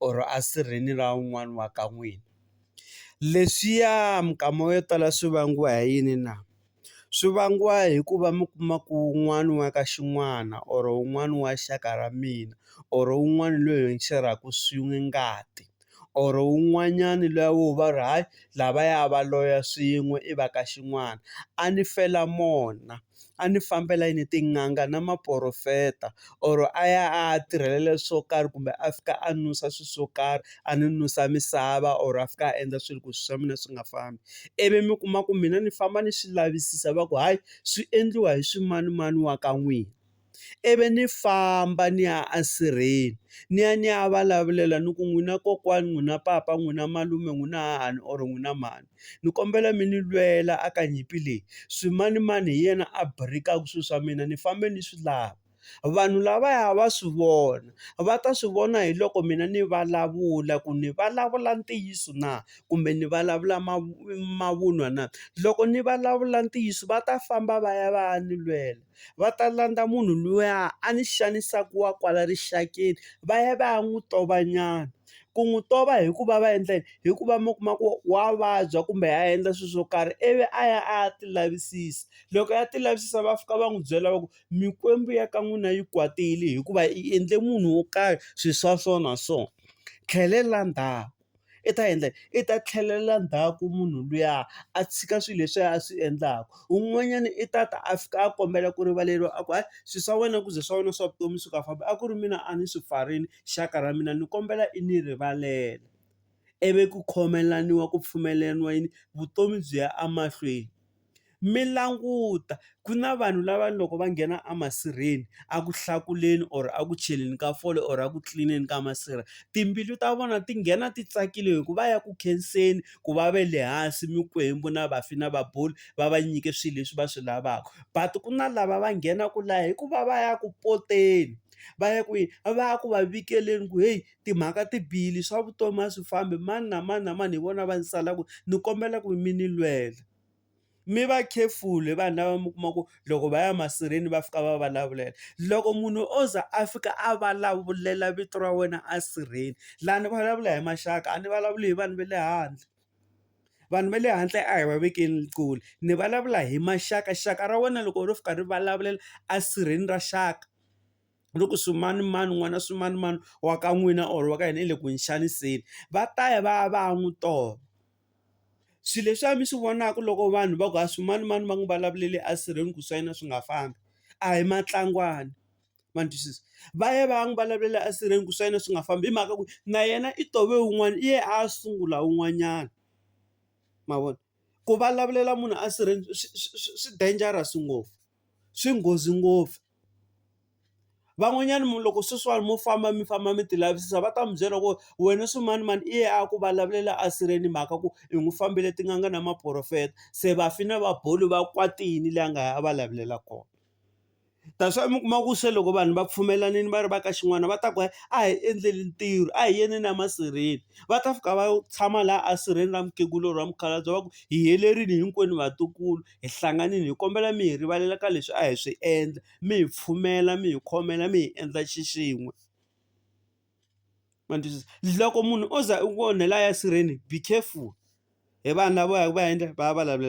or a sirheni ra un'wana wa ka n'wina leswiya minkama yo tala swi vangiwa hi yini na swi vangiwa hikuva mi kuma ku wun'wani wa ka xin'wana or wun'wani wa xaka ra mina or wun'wani loyi hi rhaku swin'we ngati or wun'wanyani luya wo va ri hayi lavaya va loya swin'we i va ka xin'wana a ni fela mona a ni fambela yini tin'anga na maporofeta or a ya a ya tirhelela swo karhi kumbe a fika a nusa swi swo karhi a ni nusa misava or a fika a endla swilo ku swi swa mina swi nga fambi ivi mi kuma ku mina ni famba ni swi lavisisa va ku hayi swi endliwa hi swimanimani wa ka n'wina. ivi ni famba ni ya a sirheni ni ya ni ya vulavulela ni ku n'wina kokwani n'wina papa n'wina malume n'wina hahani or n'wina mhani ni kombela mi ni lwela a ka nyimpi leyi swimanimani hi yena a birikaku swi swa mina ni fambe ni swi lava vanhu lavaya va swi vona va ta swi vona hi loko mina ni vulavula ku ni vulavula ntiyiso na kumbe ni vulavula mavunwa na loko ni vulavula ntiyiso va ta famba va ya va ya ni lwela. va ta landza munhu luya a ni xanisaka wa kwala rixakeni va ya va ya n'wi tova nyana. Ku n'wi tova hi ku va va endla yini? Hi ku va mi kuma ku wa vabya kumbe a endla swilo swo karhi ivi a ya a ya ti lavisisa. Loko a ya ti lavisisa va fika va n'wi byela va ku, mikwembu ya ka n'wina yi kwatile hikuva i endle munhu wo karhi swilo swa so na so. Tlhelelani ndhawu. i ta endla yini? I ta tlhelela ndzhaku munhu luya a tshika swilo leswiya a swi endlaka. Un'wanyana i ta ta a fika a kombela ku rivaleriwa a ku hayi swilo swa wena ku ze swa wena swa vutomi swi nga fambi a ku ri mina a ni swi pfarile xaka ra mina ni kombela i ni rivalela. Ivi ku khomelaniwa ku pfumeleriwa yini? Vutomi byi ya emahlweni. Mi languta ku na vanhu lava loko va nghena a masirheni a ku hlakuleni or a ku cheleni ka fole or a ku tlilineni ka masirha timbilu ta vona ti nghena ti tsakile hi ku va ya ku khenseni ku va ve le hansi mikwembu na vafi na vaboli va va nyike swilo leswi va swi lavaka but ku na lava va nghenaka laha hikuva va ya ku poteni va ya kwihi va ya ku va vikeleni ku heyi timhaka ti bihile swa vutomi a swi fambi mani na mani na mani hi vona va ni salaka ni kombela ku mi ni lwela. mi va careful hi vanhu lava mi kuma ku loko va ya masirheni va fika va vulavulela loko munhu o za a fika a vulavulela vito ra wena a sirheni laha ni vulavula hi maxaka a ni vulavuli hi vanhu va le handle vanhu va le handle a hi va vekeni kule ni vulavula hi maxaka xaka ra wena loko ro fika ri vulavulela a sirheni ra xaka. loko swimanimani n'wana swimanimani wa ka n'wina or wa ka hina i le ku n'wi xaniseni, va ta ya va ya va ya n'wi tova. Swilo leswiya mi swi vonaka loko vanhu va ku ha swimanimani va n'wi vulavulele esirheni ku swa yena swi nga fambi, a hi matlangwana. Ma ni twisisa? Va ya va ya n'wi vulavulela esirheni ku swa yena swi nga fambi hi mhaka ku na yena i tove wun'wana i ye a ya sungula wun'wanyana. Ma vona? ku vulavulela munhu a sirhe swi swi swi swi dangerous ngopfu swi nghozi ngopfu. Van'wanyana loko sweswiwani mo famba mi famba mi ti lavisisa va ta mi byela ku wena swimanimani i yena a ku vulavulela a sirhe ni mhaka ku i n'wi fambele tin'anga na maphorofeta, se vafi na va boli va kwatile laha a nga ya a va lavulela kona. That's why mi kuma ku se loko vanhu va pfumelanini va ri va ka xin'wana va ta ku a hi endleni ntirho, a hi yeni emasirheni. Va ta fika va tshama laha a sirheni ra mukhegula or mukhalabye va ku hi helerile hinkwenu vatukulu hi hlanganile hi kombela mi hi rivalela ka leswi a hi swi endla, mi hi pfumela mi hi khomela mi hi endla xixin'we. Ma twisisa? Loko munhu o za u ku onhela a ya sirheni be careful hi vanhu lava va yaka va ya endla va ya vulavula.